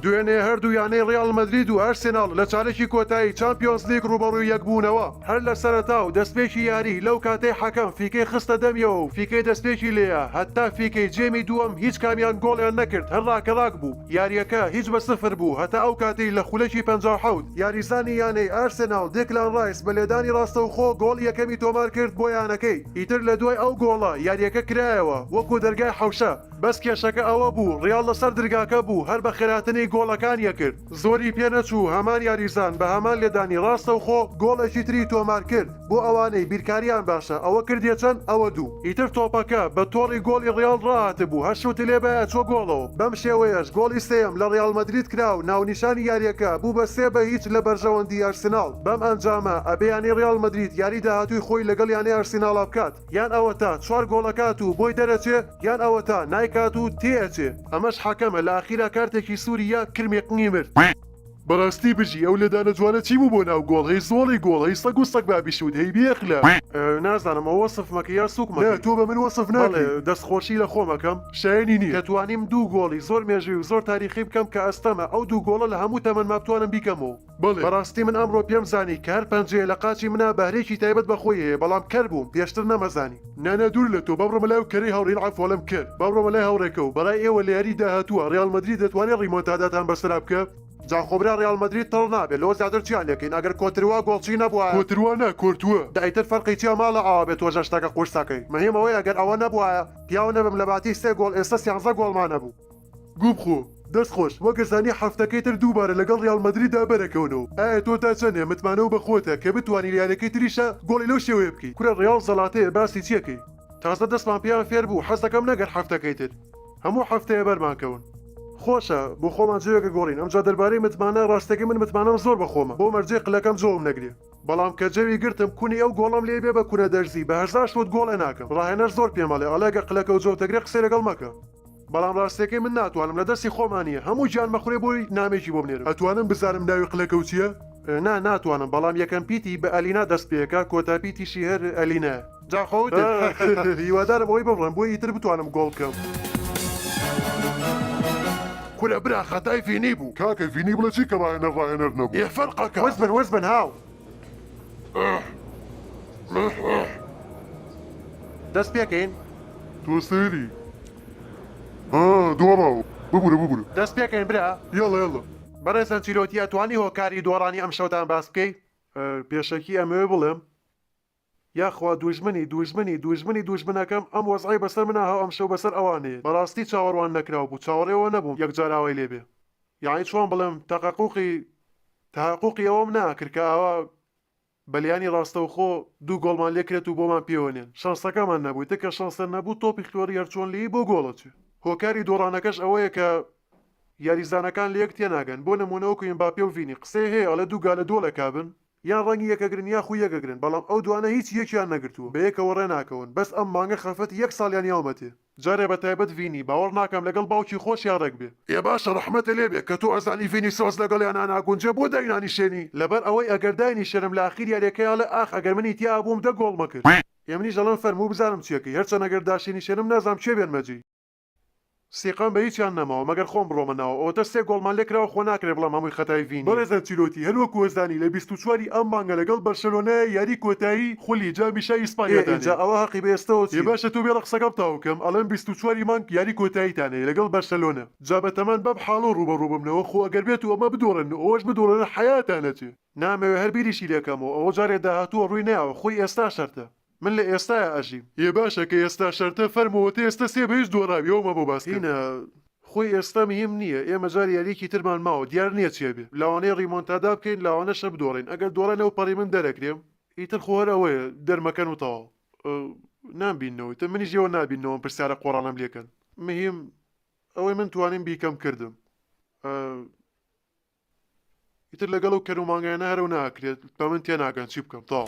دوێنێ هەردوو یانەی ڕیاڵ مەدرید و ئەرسناڵ لە چارێکی کۆتایی چمپیۆنز لیگ ڕوبەڕووی یەکبوونەوە هەر لە سەرەتا و دەستپێکی یاری لەو کاتەی حەکەم فیکەی خستە دەمیەوە و فیکەی دەستپێکی لێیە هەتا فیکەی جێمی دووەم هیچ کامیان گۆڵیان نەکرد هەر ڕاکەڕاک بوو یارییەکە هیچ بە سفر بوو هەتا ئەو کاتەی لە خولەکی پەنجا و حەوت یاریزانی یانەی ئارسێناڵ دێکلان ڕایس بە لێدانی ڕاستەوخۆ گۆڵی یەکەمی تۆمارکرد بۆ یانەکەی، ئیتر لە دوای ئەو گۆڵە یارییەکە کرایەوە وەکو دەرگای حەوشە، بەس کێشەکە ئەوە بوو ڕیاڵ لەسەر درگاکە بوو هەر بە خراتنی گۆڵەکان یەکرد زۆری پێنەچوو هەمان یاریزان بە هەمان لێدانی ڕاستەوخۆ گۆڵێکی تری تۆمارکرد. بۆ ئەوانەی بیرکاریان باشە ئەوە کردیە چەند ئەوە دوو ئیتر تۆپەکە بە تۆڕی گۆڵی ڕیاڵ ڕاهاتبوو هەر شوتی لێ بایە چوە گۆڵەوە بەم شێوەیەش گۆڵی سێیەم لە ڕیاڵ مەدرید کرا و ناونیشانی یاریەکە بوو بە سێ بە هیچ لە بەرژەوەندی ئەرسناڵ بەم ئەنجامە ئەبێ یانەی ڕیاڵ مەدرید یاری داهاتووی خۆی لەگەڵ یانەی ئەرسیناڵا بکات یان ئەوەتا چوار گۆڵ ئەکات و بۆی دەرەچێ یان ئەوەتا نایکات و تێئەچێ ئەمەش حەکەمە لە ئاخیرا کارتێکی سووری یا کرمێ قنگی مرد. بەڕاستی بژی ئەو لێدانە جوانە چی بوو بۆ ناو گۆڵ هەی زۆڵی گۆڵ هەی سەگ و سەگ بابی شوت هەی بێ ئەخلاق. نازانم ئەوە وەسف مەکە یان سوک مەکەی. نا تۆ بە من وەسف ناکەی. بەڵێ دەست خۆشی لە خۆم ئەکەم شایەنی نیە. کە توانیم دوو گۆڵی زۆر مێژووی و زۆر تاریخی بکەم کە ئەستەمە ئەو دوو گۆڵە لە هەموو تەمەنما بتوانم بیکەم و. بەڵێ بەڕاستی من ئەمڕۆ پێم زانی کە هەر پەنجەیە لە قاچی منا بەهرەیەکی تایبەت بە خۆی هەیە بەڵام کەر بووم پێشتر نەمەزانی. نا نا دوور لە تۆ با بڕۆمە لای ئەو کەرەی هاوڕێن عەفوەڵم کەر با بڕۆمە لای هاوڕێکە و بەڕای ئێوە لە یاری داهاتووە ڕیاڵ مەدرید دەتوانێ ڕیمۆنتاداتان بەسەرا بکە؟ جا خۆ برا ڕیاڵ مەدرید تەڵ نابێ لەوە زیاتر چیان لێ کەین ئەگەر کۆتروا گۆڵچی نەبوایە. کۆتروا نا کۆرتوا. دە ئیتر فەرقی چیە ماڵە ئاوابێ تۆژە شتەکە قورسەکەی مەهیم ئەوەیە گەر ئەوە نەبوایە پیاو نەبم لەباتی سێ گۆڵ ئێستە سیانزە گۆڵمان ئەبوو. گوبخۆ دەست خۆش وەکت زانی حەفتەکەی تر دووبارە لەگەڵ ریال مەدرید دا بەرەکەونۆ ئایا تۆ تا چەنێ متمانەو بە خۆتە کە بتوانی لە یانەکەی تریشا گۆڵی لەو شێوەیە بکەی کورە ریال زەلاتەیە باسی چی ئەکەی تازە دەستمان پێیان فێر بوو حەز ئەکەم نەگەر حەفتەکەی تر هەموو حەفتەیە بەرمان کەون. خۆشە بۆ خۆمان جۆێک ئەگۆڕین ئەمجا دەربارەی متمانە ڕاستەکەی من متمانەم زۆر بە خۆمە بۆ مەرجەی قلەکەم جۆم نەگرێ بەڵام کە جەوی گرتم کونی ئەو گۆڵەم لێی بێ بە کونە دەرزی بە هەزار شوت گۆڵ ئەناکەم ڕاهێنەر زۆر پێمەڵێ ئەڵێ گەر قلەکەو جۆتەگرێ قسەی لەگەڵ مەکە بەڵام ڕاستەکەی من ناتوانم لە دەستی خۆما نیە هەموو گیان مەخورێ بۆی نامەیەکی بۆ بنێرم ئەتوانم بزانم ناوی قلەکەو چیە؟ نا ناتوانم بەڵام یەکەم پیتی بە ئەلینا دەست پێکا کۆتا پیتیشی هەر ئەلینایە. جا خۆت هیوادارم ئەوەی ببڕم بۆی ئیتر بتوانم گۆڵ بکەم. کورە برا خەتای ڤینی بوو. کاکە ڤینی بڵێ چی کە ڕاهێنەر ڕاهێنەر نەبوو ئێ فەرقەکە. وەز بن وەز بن هاو. دەست پێکەین تۆ سەری دۆڕاوە ببورە ببورە دەست پێکەین برا یەڵە یەڵە. بەڕێز ئەنچیلۆتی ئەتوانی هۆکاری دۆڕانی ئەمشەوتان باس بکەی؟ پێشەکی ئەمەوێ بڵێم یاخوا دوژمنی دوژمنی دوژمنی دوژمنەکەم ئەم وەزعەی بەسەر منا هەو ئەمشەو بەسەر ئەوانێ بەڕاستی چاوەڕوان نەکراو بوو چاوەڕێ ئەوە نەبووم یەکجار ئاوای لێ بێ یەعنی چۆن بڵێم تەقەقوقی تەهەقوقی ئەوەم ناکرد کە ئاوا بەلیانی ڕاستەوخۆ دوو گۆڵمان لێ کرێت و بۆمان پێوەنێن شانسەکەمان نەبوو ئیتر کە شانسە نەبوو تۆپی خوێڕی هەرچۆن لێی بۆ گۆڵ ئەچێ هۆکاری دۆڕانەکەش ئەوەیە کە یاریزانەکان لە یەک تێناگەن بۆ نموونە وەکو ئێمباپێ و ڤینی قسەی هەیە ئەڵێ دوو گا لە دۆڵێکا بن یان ڕەنگی یەکەگرن یاخو یەکەگرن بەڵام ئەو دوانە هیچ یەکیان نەگرتووە بەیەکەوە ڕێناکەون بەس ئەم مانگە خەفەتی یەک ساڵیان یاومەتێ جارێ بەتایبەت ڤینی باوەڕ ناکەم لەگەڵ باوکی خۆشیا ڕێک بێ. ئێ باشە ڕەحمەتە لێ بێ کە تۆ ئەزانی ڤینیسۆس لەگەڵیانا ناگونجێ بۆ داینانیشێنی؟ لەبەر ئەوەی ئەگەر داینیشێنم لە ئاخیر یاریەکەی ئەڵێ ئاخ ئەگەر منی تیا ئەبووم دە گۆڵمە کرد. ئێ منیش ئەڵێم فەرموو بزانم چیەکەی هەرچەن ئەگەر داشێنیشێنم نازام کێ بێنمە جێی. سیقەم بە هیچیان نەماوە مەگەر خۆم بڕۆمە ناو ئەوەتە سێ گۆڵمان لێ کراوە خۆ ناکرێ بڵێم هەمووی خەتای ڤینیە. بەڕێز ئەنچیلۆتی هەر وەک وەزانی لە بیست و چوار ی ئەم مانگە لەگەڵ بەرشەلۆنە یاری کۆتایی خولی جامی شای ئیسپانیا دانێ. ئێ ئینجا ئەوە هەقی بە ئێستەوە چیە؟ ئێ باشە تۆ بێڵە قسەکەم تەواو کەم ئەڵێم بیست و چوار ی مانگ یاری کۆتاییتان هەیە لەگەڵ بەرشەلۆنە جا بەتەمان بەم حاڵەو ڕووبەڕوو بمنەوە خۆ ئەگەر بێتو ئەمە بدۆڕێنن و ئەوەش بدۆڕێنن حەیاتان ئەچێ. نامەوێ هەر بیریشی لێکەمەوە ئەوە جارێ داهاتووە ڕووی نایەوە خۆی ئێستا شەرتە. من لە ئێستایا ئەژیم. ئێ باشە کە ئێستا شەرتە فەرمووە تە ئێستا سێ بە یەک دۆڕاوی ئەوە مەبە باس کردن. هینا خۆی ئێستا مهیم نییە ئێمە جار یاریەکی ترمان ماوە دیار نییە چێ بێ لەوانەیە ڕیمۆنتادا بکەین لەوانەشە بدۆڕێین ئەگەر دۆڕا لەو پەڕی من دەرەکرێم ئیتر خۆ هەر ئەوەیە دەرمەکەن و تەواو نامبیننەوە ئیتر منیش ئێوە نابیننەوە ئەم پرسیارە قۆڕانەم لێکەن مهیم ئەوەی من توانیم بیکەم کردم. ئیتر لەگەڵ ئەو کەر و مانگایانە هەرەو ناکرێت بە من تێناگەن چی بکەم تاو.